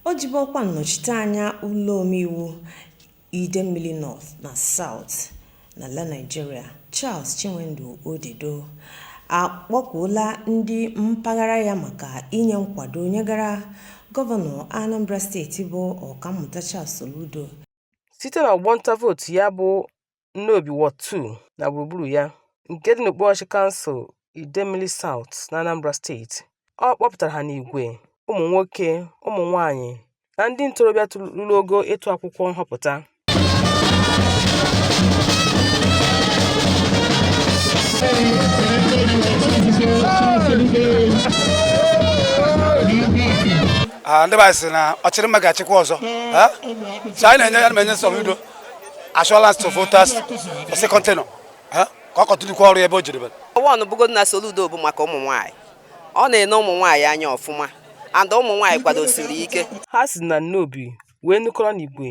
o jibu ọkwa nnọchiteanya ụlọ omeiwu Idemmili North na South n'ala Naịjirịa Charles Chinwendu Odedo akpọkuola ndị mpaghara ya maka inye nkwado nyegara gọvanọ Anambra steeti bụ Ọkammụta Charles Soludo site n'ọgbọnta vootu ya bụ Nnobi Ward 2 na gburugburu ya nke dị n'okpuruọchịchị kansụl Idemili Saụt n'Anambra steeti. Ọ kpọpụtara ha n'igwe, ụmụnwoke, ụmụnwaanyị na ndị ntorobịa ruru ogo ịtụ akwụkwọ nhọpụta. Ah, ndị be anyị sị na ọ chịrị mma ga-achịkwa ọzọ so anyị na-enye ya na-enye Soludo assurance to voters for second tenure ka ọ kọtụlikwa ọrụ ebe o jiri bere one bụgodu na Soludo bụ maka ụmụ nwaanyị ọ na-ene ụmụ nwaanyị anya ọfụma and ụmụ nwaanyị kwadosiri ike ha si na Nnobi wee nukọrọ n'igwe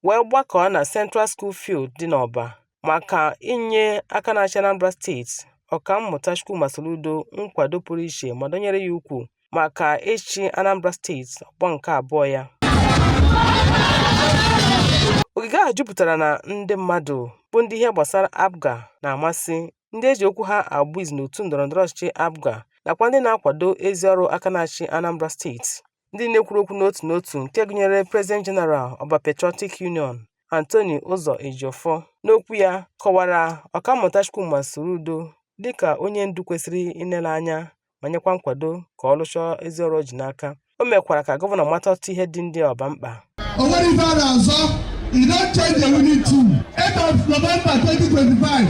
wee gbakọọ na Central School Field dị n'Ọba maka inye aka na-achị Anambra steeti Ọkammụta Chukwuma Soludo nkwado pụrụ iche ma dọnyere ya ukwu maka ịchị Anambra steeti ọgbọ nke abụọ ya. Ogige ahụ jupụtara na ndị mmadụ bụ ndị ihe gbasara APGA na-amasị, ndị e ji okwu ha agba izu n'otu ndọrọndọrọ ọchịchị APGA nakwa ndị na-akwado ezi ọrụ aka na-achị Anambra steeti. Ndị na-ekwuru okwu n'otu n'otu nke gụnyere President General Ọba Patriotic Union Anthony Ụzọ Ejiofor n'okwu ya kọwara Ọkammụta Chukwuma Soludo dịka onye ndu kwesịrị inele anya ma nyekwa nkwado ka ọ rụchaa ezi ọrụ o ji n'aka o mekwara ka gọvanọ mata ọtụtụ ihe dị ndị Ọba mkpa o nwere ife a na-asụ you don't change the winning team 8th of November 2025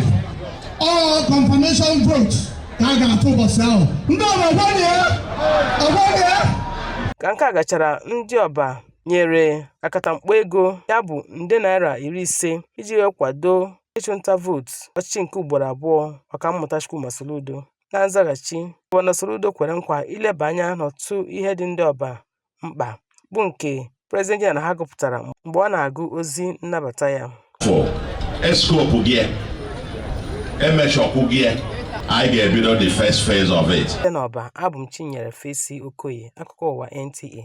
ọọ confirmation vote ka a ga-atụ ụbọchị ahụ ndị Ọba ọgbanye ọgbanye ka nke a gachara ndị Ọba nyere akatamkpo ego ya bụ nde naira iri ise iji wee kwado ịchụnta vootu ọchịchị nke ugboro abụọ ọkammụta Chukwuma Soludo Na nzaghachi, Gọvanọ Soludo kwere nkwa ileba anya n'ọtụtụ ihe dị ndị Ọba mkpa bụ nke President General ha gụpụtara mgbe ọ na-agụ ozi nnabata ya. fọ eskopụ gị emechọkwụ gị anyị ga-ebido the first phase of it Site n'Ọba, abụ m Chinyere Fesi Okoye, akụkọ ụwa NTA.